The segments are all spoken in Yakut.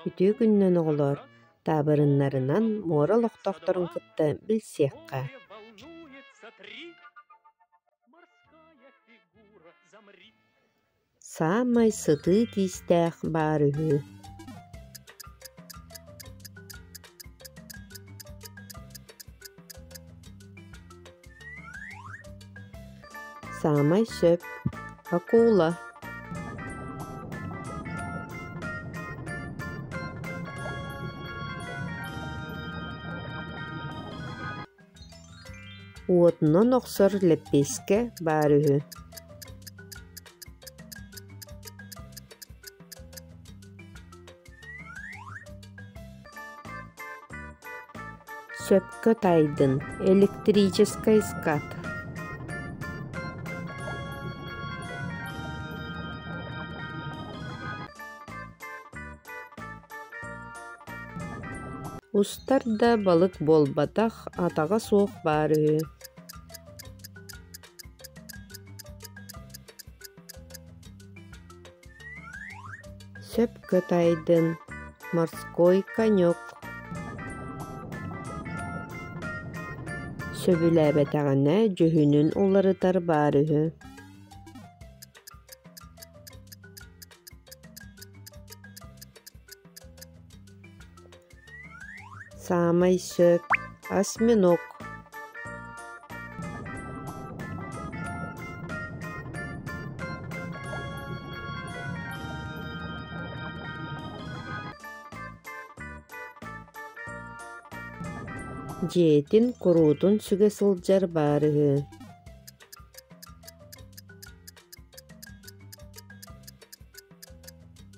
Үтүө күннэн, оҕолоор! Таабырыннарынан муора олохтоохторун кытта билсиэххэ саамай сытыы киистээх баар үһү Саамай сөп акула уотунан охсор лэппиэскэ баар үһү Сөпкө тайдын электрическэй скат Устар да балык буолбатах, атаҕа суох баар үһү. Сөп кытайдын морской конек сөбүлээбэтэҕинэ дьүһүнүн уларытар баара үһү Саамай сөп осьминог дьиэтин куруутун сүгэ сылдьар баар үһү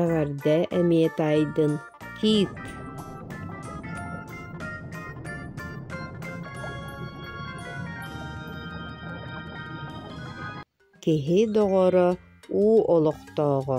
Эҕэрдэ эмиэ таайдын Кит Киһи доҕоро уу олохтооҕо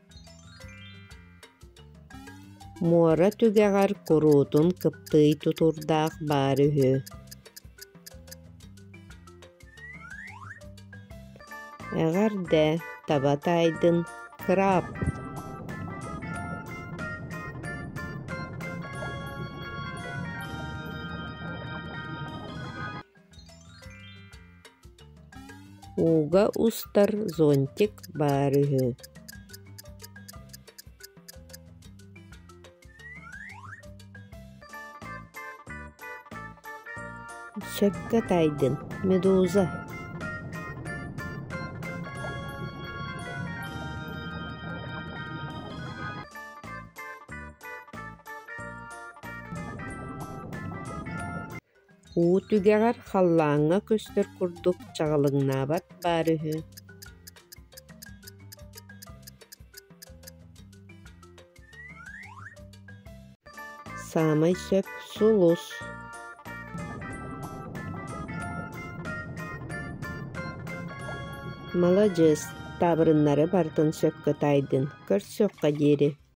муора түгэҕэр куруутун кыптыый тутурдаах баар үһү эҕэрдэ таба таайдын кыраап Ууга устар зонтик баар үһү Сөпкө тайдын, медуза Уу түгэҕэр халлааҥҥа көстөр курдук чаҕылыҥнаабат баар үһү Саамай сөп сулус Маладьыас, таабырыннары барытын сөпкө таайдын, көрсүөххэ диэри